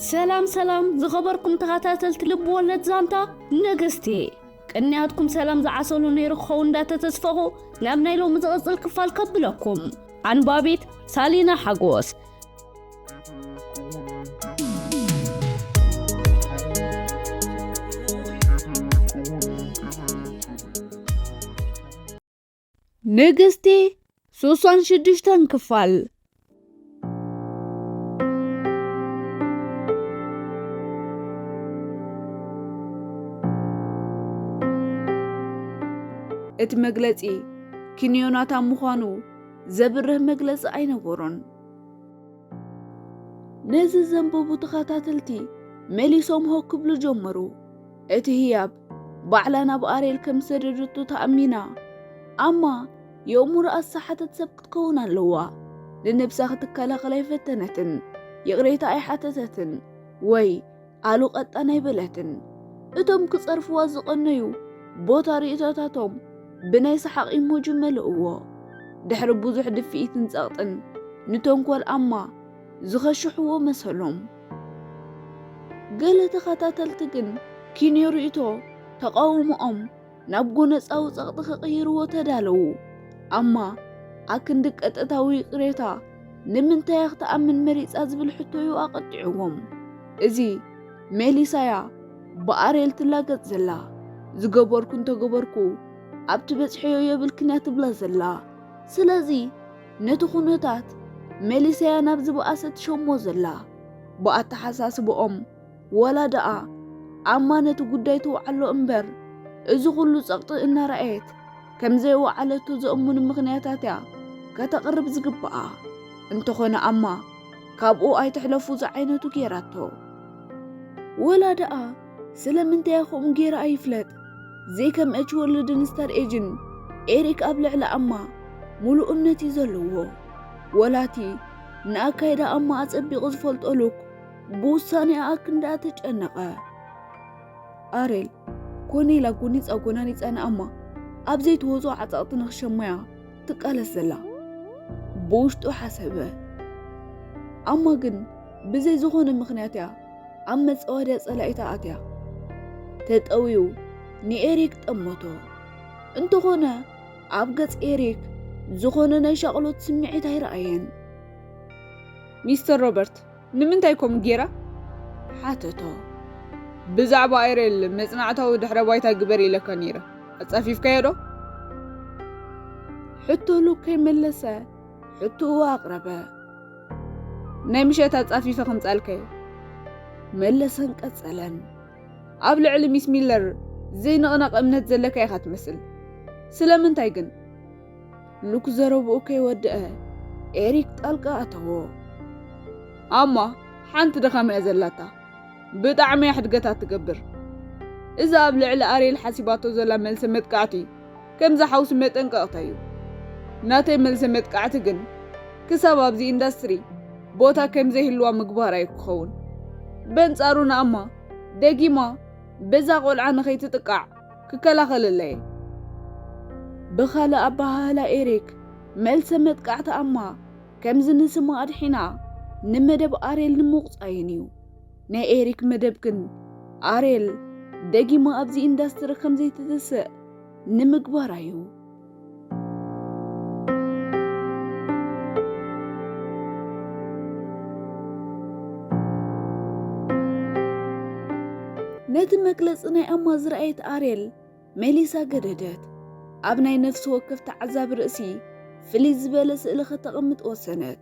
ሰላም ሰላም ዝኸበርኩም ተኸታተልቲ ልቢ ወለድ ዛንታ ነገስቲ ቅንያትኩም ሰላም ዝዓሰሉ ነይሩ ክኸው እንዳተተስፈኹ ናብ ናይ ሎሚ ዝቕፅል ክፋል ከብለኩም ኣንባቢት ሳሊና ሓጎስ ንግስቲ ሱሳን ሽዱሽተን ክፋል እቲ መግለጺ ኪን ዮናታን ምዃኑ ዘብርህ መግለጺ ኣይነበሮን። ነዚ ዘንበቡ ተኸታተልቲ መሊሶም ሆ ክብሉ ጀመሩ። እቲ ህያብ ባዕላ ናብ ኣርየል ከም ዝሰደደቶ ተኣሚና ኣማ የእሙሮ ኣሳሓተት ሰብ ክትከውን ኣለዋ። ንነብሳ ክትከላኸል ኣይፈተነትን፣ ይቕሬታ ኣይሓተተትን ወይ ኣሉ ቀጣን ኣይበለትን። እቶም ክጸርፍዋ ዝቐነዩ ቦታ ርእይቶታቶም ብናይ ሰሓቕ ኢሞጂ መልእዎ። ድሕሪ ብዙሕ ድፍኢትን ጸቕጥን ንተንኮል ኣማ ዝኸሽሕዎ መሰሎም። ገለ ተኸታተልቲ ግን ኪንዮ ርእቶ ተቓውሞኦም ናብ ጎነጻዊ ጸቕጢ ክቕይርዎ ተዳለዉ። ኣማ ኣክንዲ ቀጥታዊ ይቕሬታ ንምንታያ ክትኣምን መሪጻ ዝብል ሕቶዩ ኣቐጢዕዎም። እዚ ሜሊሳያ ብኣርየል ትላገጽ ዘላ ዝገበርኩ እንተገበርኩ ኣብቲ በጽሐዮ የብልክንያ ትብላ ዘላ ስለዚ ነቲ ኩነታት መሊሰያ ናብ ዝበኣሰ ትሸሞ ዘላ። ብኣተሓሳስብኦም ወላ ደኣ ኣማ ነቲ ጉዳይ ትውዓሎ እምበር እዚ ኩሉ ጸቕጢ እናረኣየት ከም ዘይወዓለቶ ዘእሙን ምኽንያታት'ያ ከተቕርብ ዝግብኣ። እንተኾነ ኣማ ካብኡ ኣይትሕለፉ ዝዓይነቱ ገይራቶ። ወላ ደኣ ስለምንታይ ከምኡ ገይረ ኣይፍለጥ ዘይከም እች ወርልድን ስታር ኤጅን ኤሪክ ኣብ ልዕሊ ኣማ ሙሉእ እምነት እዩ ዘለዎ ወላቲ ንኣካይዳ ኣማ ኣጸቢቑ ዝፈልጦ ሉክ ብውሳኔኣ ኣክንዳኣ ተጨነቐ ኣሬል ኮነ ኢላ ጎኒፃ ጎናኒፃ ንኣማ ኣብ ዘይትወጾ ዓጻቕቲ ንክሸማያ ትቃለስ ዘላ ብውሽጡ ሓሰበ ኣማ ግን ብዘይ ዝኾነ ምክንያት እያ ኣብ መጸወደ ጸላኢታ ኣትያ ተጠውዩ ንኤሪክ ጠመቶ። እንተኾነ ኣብ ገጽ ኤሪክ ዝኾነ ናይ ሻቕሎት ስምዒት ኣይረኣየን። ሚስተር ሮበርት ንምንታይ ኮም ጌራ? ሓተቶ። ብዛዕባ ኣይሬል መጽናዕታዊ ድሕረ ባይታ ግበር ኢለካ ነይረ፣ ኣጻፊፍካዮ ዶ? ሕቶሉ ከይመለሰ ሕቶኡ ኣቕረበ። ናይ ምሸት ኣጻፊፈ ክምጻልከ መለሰን ቀጸለን ኣብ ልዕሊ ሚስ ሚለር ዘይንቕነቕ እምነት ዘለካ ኢኻ ትመስል ስለምንታይ ግን ሉክ ዘረብኡ ከይወድአ ኤሪክ ጣልቃ ኣተዎ ኣማ ሓንቲ ድኻም እያ ዘላታ ብጣዕሚ እያ ሕድገታት ትገብር እዛ ኣብ ልዕሊ ኣርየል ሓሲባቶ ዘላ መልሰ መጥቃዕቲ ከምዚ ሓውሲ መጠንቀቕታ እዩ። ናተይ መልሰ መጥቃዕቲ ግን ክሳብ ኣብዚ ኢንዳስትሪ ቦታ ከም ዘይህልዋ ምግባር ኣዩ ክኸውን። በንጻሩ ንኣማ ደጊማ በዛ ቆልዓ ንኸይትጥቃዕ ክከላኸለላ እየ። ብኻልእ ኣበሃህላ ኤሪክ መልሰ መጥቃዕቲ ኣማ ከምዚ ንስማ ኣድሒና ንመደብ ኣርየል ንምቑጻይን እዩ። ናይ ኤሪክ መደብ ግን ኣርየል ደጊማ ኣብዚ ኢንዳስትሪ ከም ዘይትትስእ ንምግባር ኣዩ። ነቲ መግለጺ ናይ ኣማ ዝረኣየት ኣርየል ሜሊሳ ገደደት። ኣብ ናይ ነፍሲ ወከፍ ተዓዛቢ ርእሲ ፍልይ ዝበለ ስእሊ ከተቐምጥ ወሰነት።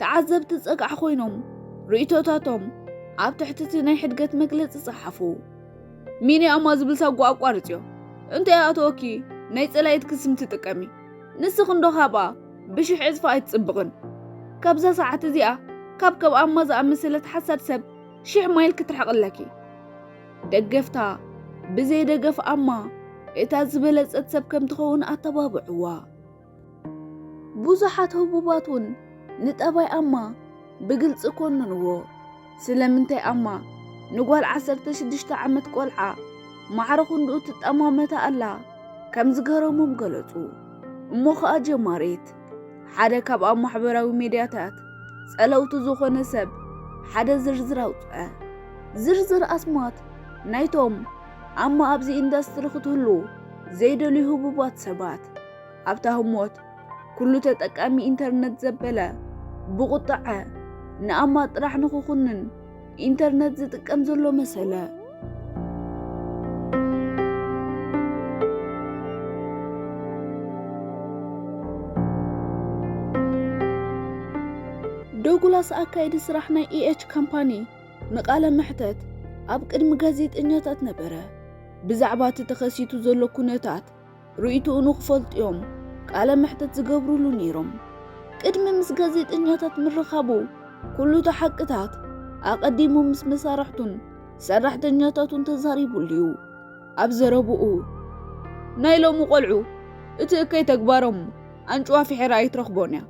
ተዓዘብቲ ጸግዒ ኮይኖም ርእይቶታቶም ኣብ ትሕቲ እቲ ናይ ሕድገት መግለጺ ጸሓፉ። ሚኒ ኣማ ዝብል ሳጓ ኣቋርጽዮ እንታይ ኣተወኪ ናይ ጸላኢትኪ ስም ትጥቀሚ ንስኺ እንዶ ካብኣ ብሽሕ ዕጽፊ ኣይትጽብቕን ካብዛ ሰዓት እዚኣ ካብ ከም ኣማ ዝኣመሰለት ሓሳድ ሰብ ሽሕ ማይል ክትርሕቕ ኣለኪ ደገፍታ ብዘይ ደገፍ ኣማ እታ ዝበለጸት ሰብ ከም ትኸውን ኣተባብዕዋ። ብዙሓት ህቡባት እውን ንጠባይ ኣማ ብግልፂ ኮንንዎ። ስለምንታይ ኣማ ንጓል ዓሰርተ ሽዱሽተ ዓመት ቆልዓ ማዕረ ክንድኡ ትጠማመታ ኣላ ከም ዝገረሞም ገለፁ። እሞ ኸኣ ጀማሪት ሓደ ካብ ኣብ ማሕበራዊ ሜድያታት ጸለውቲ ዝኾነ ሰብ ሓደ ዝርዝር ኣውጽዐ። ዝርዝር ኣስማት ናይቶም ኣማ ኣብዚ ኢንዳስትሪ ክትህሉ ዘይደልዩ ህቡባት ሰባት ኣብታ ህሞት ኩሉ ተጠቃሚ ኢንተርነት ዘበለ ብቑጥዐ ንኣማ ጥራሕ ንኽኹንን ኢንተርነት ዝጥቀም ዘሎ መሰለ። ዶጉላስ ኣካይዲ ስራሕ ናይ ኢኤች ካምፓኒ ንቃለ መሕተት ኣብ ቅድሚ ጋዜጠኛታት ነበረ። ብዛዕባ እቲ ተኸሲቱ ዘሎ ኩነታት ርእይትኡ ንክፈልጡ'ዮም ቃለ መሕተት ዝገብሩሉ ነይሮም። ቅድሚ ምስ ጋዜጠኛታት ምርኻቡ ኩሉ'ቲ ሓቅታት ኣቐዲሙ ምስ መሳርሕቱን ሰራሕተኛታቱን ተዛሪቡሉ'ዩ። ኣብ ዘረብኡ ናይ ሎሚ ቆልዑ እቲ እከይ ተግባሮም ኣንጭዋ ፍሒራ ኣይትረኽቦን'ያ።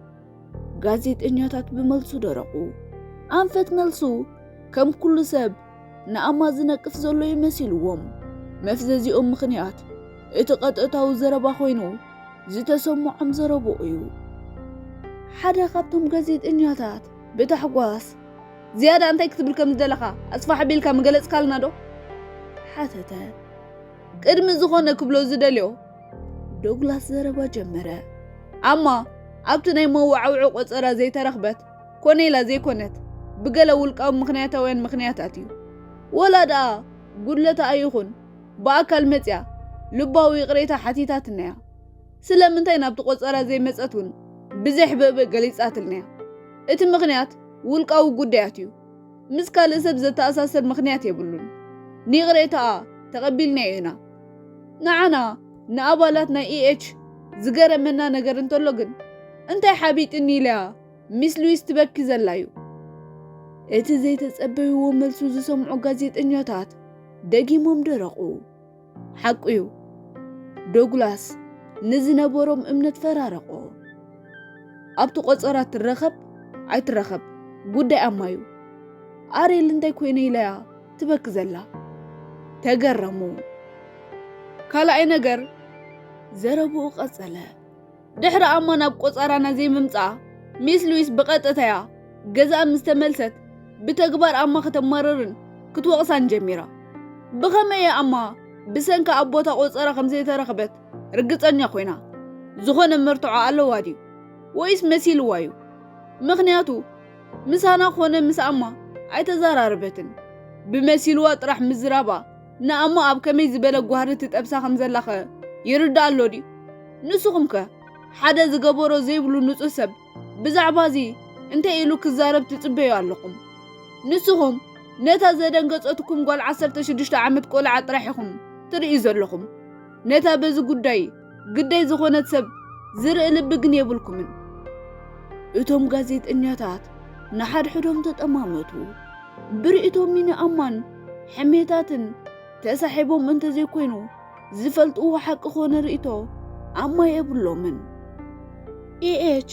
ጋዜጠኛታት ብመልሱ ደረቑ። ኣንፈት መልሱ ከም ኩሉ ሰብ ንኣማ ዝነቅፍ ዘሎ እዩ መሲልዎም። መፍዘዚኦም ምኽንያት እቲ ቀጥታዊ ዘረባ ኮይኑ ዝተሰምዖም ዘረብኡ እዩ። ሓደ ካብቶም ጋዜጠኛታት ብታሕጓስ ዝያዳ እንታይ ክትብል ከም ዝደለኻ ኣስፋሕ ኣቢልካ ምገለጽካልና ዶ? ሓተተ። ቅድሚ ዝኾነ ክብሎ ዝደልዮ ዶግላስ ዘረባ ጀመረ። ኣማ ኣብቲ ናይ መወዓውዒ ቆጸራ ዘይተረኽበት ኮነ ኢላ ዘይኮነት ብገለ ውልቃዊ ምኽንያታውያን ምኽንያታት እዩ። ወላ ደኣ ጉድለታኣ ይኹን ብኣካል መጺኣ ልባዊ ይቕሬታ ሓቲታትና እያ። ስለምንታይ ናብቲ ቆጸራ ዘይመጸት እውን ብዘሕበበ ገሊጻትልና እያ። እቲ ምኽንያት ውልቃዊ ጉዳያት እዩ። ምስ ካልእ ሰብ ዘተኣሳስር ምኽንያት የብሉን። ንይቕሬታኣ ተቐቢልናዮ ኢና። ንዓና ንኣባላት ናይ EH ዝገረመና ነገር እንተሎ ግን፣ እንታይ ሓቢጥኒ ኢላ'ያ ሚስ ሉዊስ ትበኪ ዘላ'ዩ። እቲ ዘይተጸበይዎ መልሱ ዝሰምዑ ጋዜጠኛታት ደጊሞም ደረቑ። ሓቁ'ዩ፣ ዶግላስ ንዝነበሮም እምነት ፈራረቖ። ኣብቲ ቆጸራ ትረኸብ ኣይትረኸብ ጉዳይ ኣማ'ዩ። ኣርየል እንታይ ኮይነ ኢላ'ያ ትበኪ ዘላ? ተገረሙ። ካልኣይ ነገር፣ ዘረብኡ ቀጸለ። ድሕሪ ኣሞ ናብ ቆጻራና ዘይምምጻኣ ሚስ ሉዊስ ብቐጥታ'ያ ገዛኣ ምስ ተመልሰት ብተግባር ኣማ ከተማርርን ክትወቕሳን ጀሚራ። ብኸመይ'ያ ኣማ ብሰንካ ኣብ ቦታ ቆጸራ ከም ዘይተረኽበት ርግጸኛ ኮይና? ዝኾነ መርትዖ ኣለዋ ድዩ? ወይስ መሲልዋ'ዩ? ምኽንያቱ ምሳና ኮነ ምስ ኣማ ኣይተዘራረበትን። ብመሲልዋ ጥራሕ ምዝራባ ንኣሞ ኣብ ከመይ ዝበለ ጓህሪ ትጠብሳ ከም ዘላኸ ይርድኣ ኣሎ ድዩ? ንስኹም ከ ሓደ ዝገበሮ ዘይብሉ ንጹህ ሰብ ብዛዕባ እዚ እንታይ ኢሉ ክዛረብ ትጽበዩ ኣለኹም? ንስኹም ነታ ዘደንገጸትኩም ጓል ዓሰርተ ሽዱሽተ ዓመት ቆልዓ ጥራሕ ኢኹም ትርእዩ ዘለኹም። ነታ በዚ ጉዳይ ግዳይ ዝኾነት ሰብ ዝርኢ ልቢ ግን የብልኩምን። እቶም ጋዜጠኛታት ንሓድሕዶም ተጠማመቱ። ብርእይቶ ሚኒ ኣማን ሕሜታትን ተሳሒቦም እንተዘይኮይኑ ዝፈልጥዎ ሓቂ ኮነ ርእይቶ ኣማ የብሎምን። ኢኤች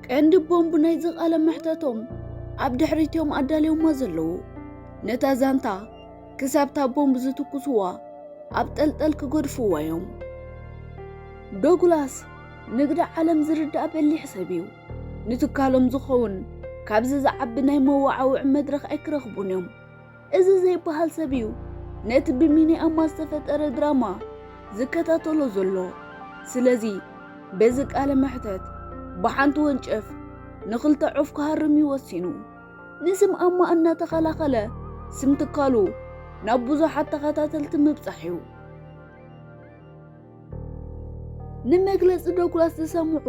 ቀንዲ ቦምብ ናይዚ ቃለ መሕተቶም ኣብ ድሕሪት እዮም ኣዳልዮማ ዘለዉ። ነታ ዛንታ ክሳብ እታ ቦምብ ዝትኩስዋ ኣብ ጠልጠል ክገድፍዋ እዮም። ዶግላስ ንግዲ ዓለም ዝርዳእ በሊሕ ሰብ እዩ። ንትካሎም ዝኸውን ካብዚ ዝዓቢ ናይ መወዓውዒ መድረኽ ኣይክረኽቡን እዮም። እዚ ዘይበሃል ሰብ እዩ ነቲ ብሚኒኣማ ዝተፈጠረ ድራማ ዝከታተሎ ዘሎ። ስለዚ በዚ ቃለ መሕተት ብሓንቲ ወንጨፍ ንኽልተ ዑፍ ክሃርም እዩ ወሲኑ። ንስም ኣማ እናተኸላኸለ ስም ትካሉ ናብ ብዙሓት ተኸታተልቲ ምብጻሕ እዩ። ንመግለጺ ዶግላስ ዝሰምዑ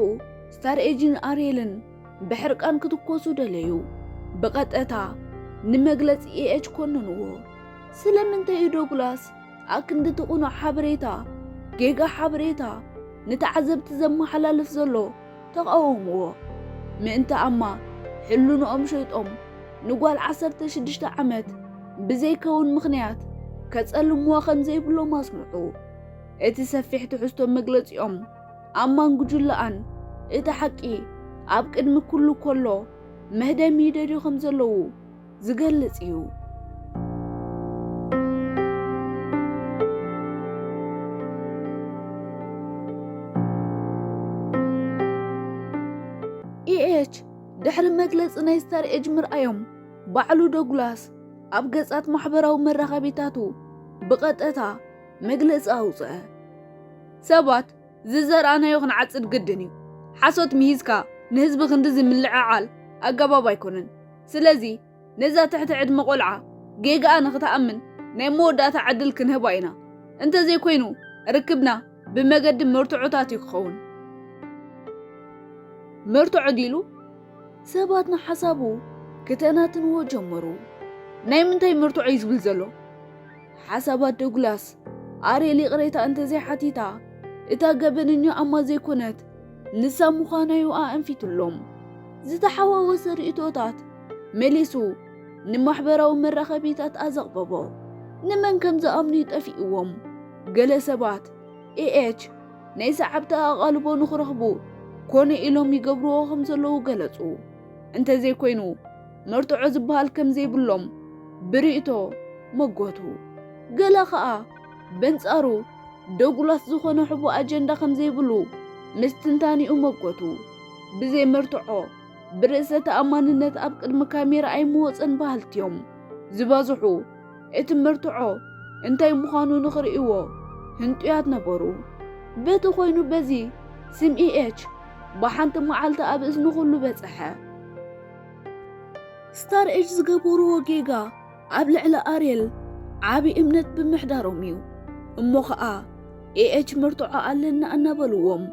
ስታር ኤጅን ኣርየልን ብሕርቃን ክትኮሱ ደለዩ። ብቐጠታ ንመግለጺ ኤኤች ኮነንዎ። ስለምንታይ እዩ ዶግላስ ኣክንዲ እቲ ቕኑዕ ሓበሬታ ጌጋ ሓበሬታ ንተዓዘብቲ ዘመሓላልፍ ዘሎ? ተቓወምዎ። ምእንቲ ኣማ ሕልንኦም ሸይጦም ንጓል ዓሰርተ ሽዱሽተ ዓመት ብዘይከውን ምኽንያት ከጸልምዋ ከም ዘይብሎም ኣስምዑ። እቲ ሰፊሕ ትሕዝቶ መግለጺኦም ኣማን ጉጅለኣን እቲ ሓቂ ኣብ ቅድሚ ኩሉ ኮሎ መህደሚ ይደልዩ ከም ዘለዉ፣ ዝገልጽ እዩ። EH ድሕሪ መግለጺ ናይ ስታር ኤጅ ምርኣዮም ባዕሉ ዶግላስ ኣብ ገጻት ማሕበራዊ መራኸቢታቱ ብቐጠታ መግለጺ ኣውጽአ። ሰባት ዝዘርኣናዮ ክንዓጽድ ግድን እዩ። ሓሶት ምሂዝካ ንህዝቢ ክንድዚ ምልዕዓል ኣገባብ ኣይኮነን። ስለዚ ነዛ ትሕቲ ዕድመ ቆልዓ ጌጋኣ ንኽትኣምን ናይ መወዳእታ ዕድል ክንህባ ኢና። እንተዘይኮይኑ ርክብና ብመገዲ መርትዖታት እዩ ክኸውን። መርትዖ ድዩ ኢሉ ሰባት ንሓሳቡ ክተናትንዎ ጀመሩ። ናይ ምንታይ መርትዖ እዩ ዝብል ዘሎ? ሓሳባት ዶግላስ ኣርየል ይቕሬታ እንተዘይሓቲታ እታ ገበነኛ ኣማ ዘይኮነት ንሳ ምዃናዩ ኣእንፊትሎም። ዝተሓዋወሰ ርእይቶታት መሊሱ ንማሕበራዊ መራኸቢታት ኣዘቕበቦ። ንመን ከም ዝኣምኑዩ ጠፊእዎም። ገለ ሰባት ኤኤች ናይ ሰዓብቲ ኣቓልቦ ንኽረኽቡ ኮነ ኢሎም ይገብርዎ ከም ዘለዉ ገለጹ። እንተዘይኮይኑ መርትዖ ዝበሃል ከም ዘይብሎም ብርእይቶ መጎቱ። ገለ ከኣ በንጻሩ ደጉላት ዝኾነ ሕቡእ ኣጀንዳ ከም ዘይብሉ ምስ ትንታኔኡ መጎቱ። ብዘይ መርትዖ ብርእሰ ተኣማንነት ኣብ ቅድሚ ካሜራ ኣይምወጸን በሃልቲ'ዮም ዝበዝሑ። እቲ መርትዖ እንታይ ምዃኑ ንኽርእይዎ ህንጡያት ነበሩ። በቲ ኮይኑ በዚ ስም ኢኤች ብሓንቲ መዓልቲ ኣብ እዝኒ ኩሉ በጸሐ። ስታር ኤጅ ዝገበርዎ ጌጋ ኣብ ልዕሊ ኣርየል ዓቢ እምነት ብምሕዳሮም እዩ እሞ ኸኣ ኤኤች መርትዖ ኣለና እናበልዎም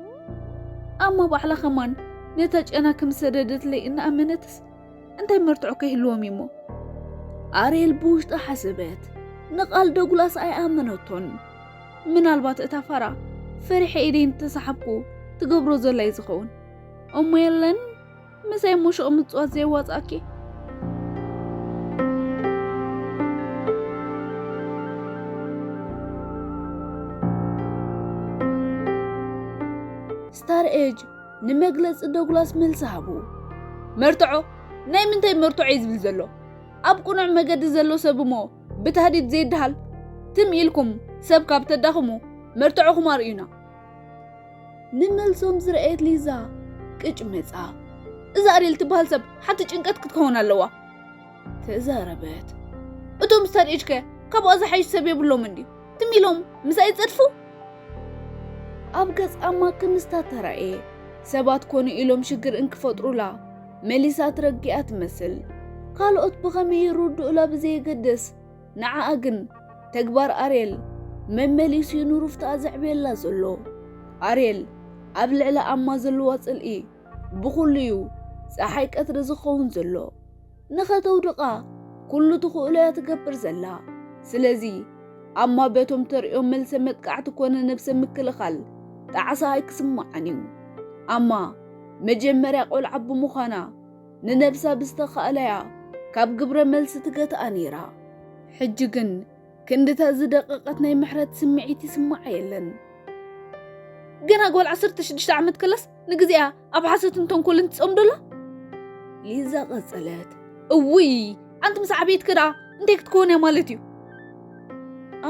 ኣሞ ባዕላ ኸማን ነታ ጨና ከም ዝሰደደትለይ እናኣመነትስ እንታይ መርትዖ ከይህልዎም እዩሞ ኣርየል ብውሽጣ ሓሰበት ንቓል ደጉላስ ኣይኣመነቶን ምናልባት እታ ፋራ ፈሪሐ ኢደይ እንተሰሓብኩ ትገብሮ ዘላ እዩ ዝኸውን እሞ የለን ምሳይ ሙሹቕ ምጽዋት ዘየዋጻኣኪ ስታር ኤጅ ንመግለፂ ዶግላስ መልሲ ሃቡ መርትዖ ናይ ምንታይ መርትዖ እዩ ዝብል ዘሎ ኣብ ቅኑዕ መገዲ ዘሎ ሰብ እሞ ብታህዲድ ዘይደሃል ትም ኢልኩም ሰብ ካብ ተዳኽሙ መርትዖኹም ኣርእዩና ንመልሶም ዝረኣየት ሊዛ ቅጭ መጻ። እዛ ኣርየል ትበሃል ሰብ ሓንቲ ጭንቀት ክትከውን ኣለዋ ተዛረበት። እቶም ስታድ ኤጅ ከ ካብኣ ዝሓይሽ ሰብ የብሎምን ድዩ? ትም ኢሎም ምሳይ ይጸድፉ? ኣብ ገጽ ኣማ ክምስታ ተራእየ። ሰባት ኮኑ ኢሎም ሽግር እንክፈጥሩላ መሊሳ ትረግኣ ትመስል። ካልኦት ብኸመይ ይርድኡላ ብዘየገድስ ንዓኣ ግን ተግባር ኣርየል መመሊሱ ዩ ንሩፍታኣ ዘዕብየላ ዘሎ። ኣርየል ኣብ ልዕሊ ኣማ ዘለዋ ጽልኢ ብኹሉ ዩ ጸሓይ ቀትሪ ዝኸውን ዘሎ። ንኸተውድቓ ኩሉ ትኽእሎ እያ ትገብር ዘላ። ስለዚ ኣማ በቶም ተርእዮም መልሰ መጥቃዕቲ ኮነ ነብሰ ምክልኻል ጣዕሳ ኣይክስምዓን ዩ። ኣማ መጀመርያ ቆልዓ ብምዃና ንነብሳ ብዝተኻእለያ ካብ ግብረ መልሲ ትገትኣ ነይራ። ሕጂ ግን ክንድታ ዝደቐቐት ናይ ምሕረት ስምዒት ይስምዓ የለን። ገና ጓል ዓሰርተ ሽዱሽተ ዓመት ከላስ ንግዜኣ ኣብ ሓሶትን ተንኮልን ትጸምዶ ኣላ። ሊዛ ቀጸለት። እውይ ኣንቲ ምስ ዓበየት ከደኣ እንታይ ክትከውን እያ ማለት እዩ።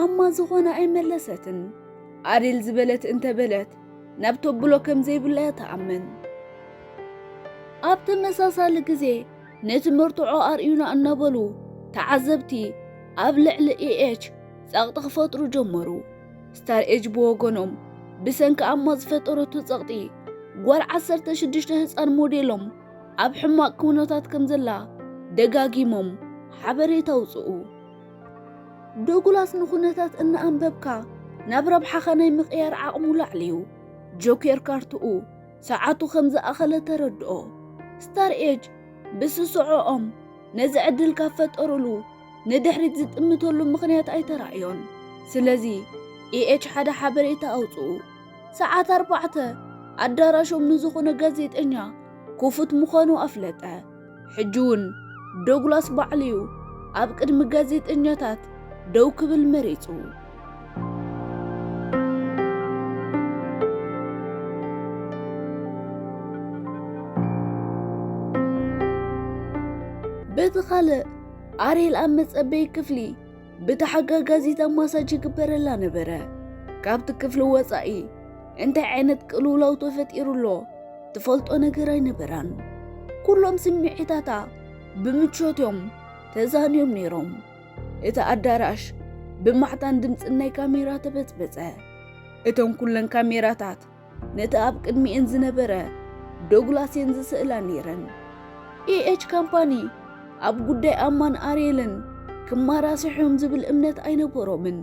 ኣማ ዝኾነ ኣይመለሰትን። ኣዴል ዝበለት እንተበለት ናብ ተብሎ ከም ዘይብላ እያ ትኣምን። ኣብ ተመሳሳሊ ግዜ ነቲ መርትዖ ኣርእዩና እናበሉ ተዓዘብቲ ኣብ ልዕሊ ኢኤች ጸቕጢ ክፈጥሩ ጀመሩ። ስታር ኤጅ ብወገኖም ብሰንኪ ኣማ ዝፈጠረቱ ጸቕጢ ጓል ዓሰርተ ሽዱሽተ ህጻን ሞዴሎም ኣብ ሕማቕ ኩነታት ከም ዘላ ደጋጊሞም ሓበሬታ ኣውጽኡ። ዶጉላስ ንኹነታት እናኣንበብካ ናብ ረብሓኻ ናይ ምቕያር ዓቕሙ ላዕሊ'ዩ። ጆኬር ካርትኡ ሰዓቱ ከም ዝኣኸለ ተረድኦ። ስታር ኤጅ ብስስዖኦም ነዚ ዕድል ካብ ፈጠሩሉ ንድሕሪት ዝጥምተሉ ምኽንያት ኣይተራእዮን። ስለዚ ኢኤች ሓደ ሓበሬታ ኣውጽኡ። ሰዓት ኣርባዕተ ኣዳራሾም ንዝኾነ ጋዜጠኛ ክፉት ምዃኑ ኣፍለጠ። ሕጂ'ውን ዶግላስ ባዕሉ'ዩ ኣብ ቅድሚ ጋዜጠኛታት ደው ክብል መሪጹ። በቲ ካልእ ኣርየል ኣብ መጸበዪ ክፍሊ ብተሓጋጋዚታ ማሳጅ ይግበረላ ነበረ። ካብቲ ክፍሊ ወፃኢ እንታይ ዓይነት ቅልውላው ተፈጢሩ ኣሎ ትፈልጦ ነገር ኣይነበራን። ኩሎም ስምዒታታ ብምቾት እዮም ተዛንዮም ነይሮም። እቲ ኣዳራሽ ብማዕታን ድምፅን ናይ ካሜራ ተበፅበፀ። እተን ኩለን ካሜራታት ነቲ ኣብ ቅድሚኤን ዝነበረ ዶግላስ እየን ዝስእላ ነይረን። ኢኤች ካምፓኒ ኣብ ጉዳይ ኣማን ኣርየልን ክማራስሑም ዝብል እምነት ኣይነበሮምን።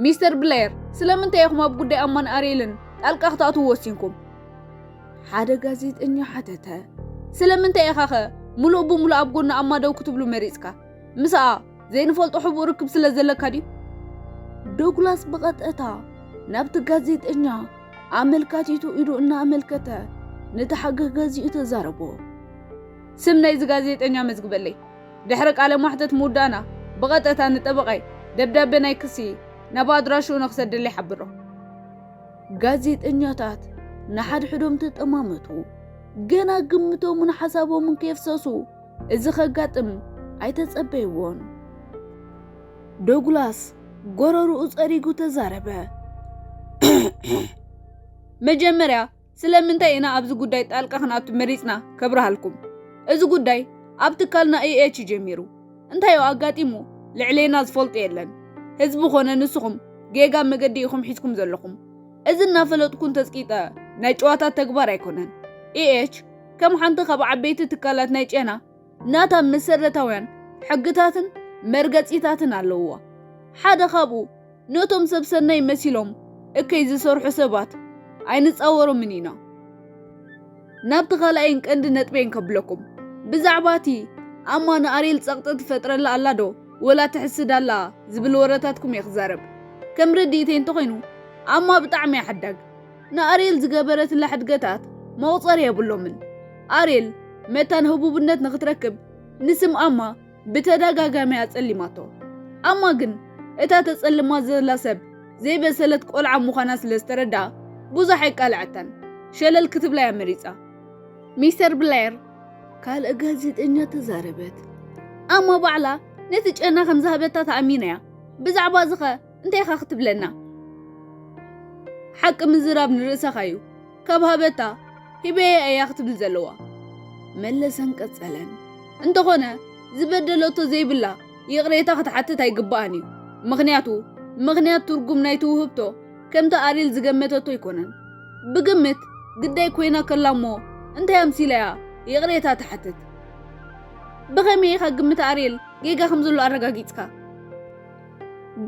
ሚስተር ብሌየር ስለምንታይ ኢኹም ኣብ ጉዳይ ኣማን ኣርየልን ጣልቃ ክትኣትዉ ወሲንኩም? ሓደ ጋዜጠኛ ሓተተ። ስለምንታይ ኢኻኸ ምሉእ ብምሉእ ኣብ ጎኒ ኣማ ደው ክትብሉ መሪጽካ? ምስኣ ዘይንፈልጦ ሕቡእ ርክብ ስለ ዘለካ ድዩ? ዶግላስ ብቐጥታ ናብቲ ጋዜጠኛ ኣመልካቲቱ ኢዱ እናኣመልከተ ነቲ ሓገህ ገዚኡ ተዛረቦ። ስም ናይዚ ጋዜጠኛ መዝግበለይ። ድሕሪ ቃለ ማሕተት ምውዳእና ብቐጥታ ንጠበቓይ ደብዳቤ ናይ ክሲ ናብ ኣድራሽኡ ንክሰደለይ ሓብሮ። ጋዜጠኛታት ንሓድሕዶም ተጠማመቱ። ገና ግምቶምን ሓሳቦምን ከየፍሰሱ እዚ ከጋጥም ኣይተጸበይዎን። ዶግላስ ጎረርኡ ጸሪጉ ተዛረበ። መጀመርያ ስለምንታይ ኢና ኣብዚ ጉዳይ ጣልቃ ክንኣቱ መሪጽና ከብርሃልኩም። እዚ ጉዳይ ኣብ ትካልና ኢኤች ጀሚሩ እንታዮ ኣጋጢሙ ልዕሌና ዝፈልጦ የለን። ህዝቢ ኮነ ንስኹም ጌጋ መገዲ ኢኹም ሒዝኩም ዘለኹም። እዚ እናፈለጥኩን ተጽቂጠ ናይ ጨዋታ ተግባር ኣይኮነን። ኢኤች ከም ሓንቲ ካብ ዓበይቲ ትካላት ናይ ጨና ናታ መሰረታውያን ሕግታትን መርገጺታትን ኣለውዋ። ሓደ ካብኡ ነቶም ሰብ ሰናይ መሲሎም እከይ ዝሰርሑ ሰባት ኣይንጻወሮምን ኢና። ናብቲ ካልኣይን ቀንዲ ነጥበይን ከብለኩም ብዛዕባ እቲ ኣማ ንኣርየል ጸቕጢ ትፈጥረላ ኣላ ዶ ወላ ትሕስድ ኣላ ዝብል ወረታትኩም እየ ክዛረብ። ከም ርድኢተይ እንተኾይኑ ኣማ ብጣዕሚ እያ ሓዳግ። ንኣርየል ዝገበረትላ ሕድገታት መቑጸሪ የብሎምን። ኣርየል መታን ህቡብነት ንኽትረክብ ንስም ኣማ ብተደጋጋሚ ኣጸሊማቶ። ኣማ ግን እታ ተጸልማ ዘላ ሰብ ዘይበሰለት ቆልዓ ምዃና ስለ ዝተረድኣ ብዙሕ ኣይቃልዐታን፣ ሸለል ክትብላ'ያ መሪጻ። ሚስተር ብሌር ካልእ ጋዜጠኛ ተዛረበት። ኣማ ባዕላ ነቲ ጨና ከም ዝሃበታ ተኣሚና'ያ፣ ብዛዕባ'ዚኸ እንታይ ኢኻ ክትብለና ሓቂ ምዝራብ ንርእሰኻ እዩ ካብ ሃበታ ሂበየ እያ ክትብል ዘለዋ መለሰን ቀጸለን እንተኾነ ዝበደለቶ ዘይብላ ይቕሬታ ክትሓትት ኣይግባኣን እዩ ምኽንያቱ ምኽንያት ትርጉም ናይ ትውህብቶ ከምቲ ኣሪል ዝገመተቶ ኣይኮነን ብግምት ግዳይ ኮይና ከላ እሞ እንታይ ኣምሲላያ ይቕሬታ ትሓትት ብኸመይ ኢኻ ግምት ኣሪል ጌጋ ከም ዘሎ ኣረጋጊጽካ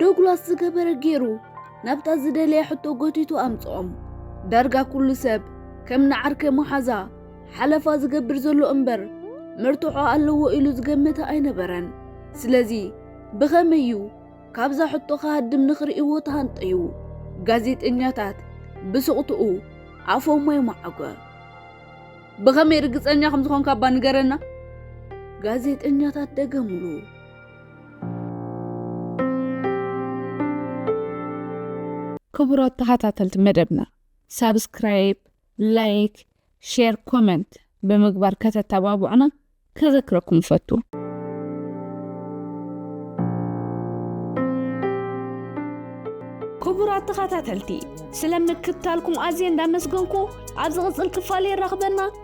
ዶግላስ ዝገበረ ገይሩ ናብታ ዝደለየ ሕቶ ጎቲቱ ኣምጽኦም። ዳርጋ ኩሉ ሰብ ከም ንዓርከ መሓዛ ሓለፋ ዝገብር ዘሎ እምበር መርትዖ ኣለዎ ኢሉ ዝገመተ ኣይነበረን። ስለዚ ብኸመይ እዩ ካብዛ ሕቶ ክሃድም ንኽርእይዎ ተሃንጠዩ። ጋዜጠኛታት ብስቕትኡ ኣፎም ማይ መዓጎ። ብኸመይ ርግጸኛ ከም ዝኾንካ እባ ንገረና? ጋዜጠኛታት ደገምሉ። ክቡራት ተኸታተልቲ መደብና ሳብስክራይብ ላይክ ሼር ኮመንት ብምግባር ከተተባብዑና ከዘክረኩም ይፈቱ ክቡራት ተኸታተልቲ ስለምክታልኩም ኣዝየ እንዳመስገንኩ ኣብ ዝቕፅል ክፋል የራኽበና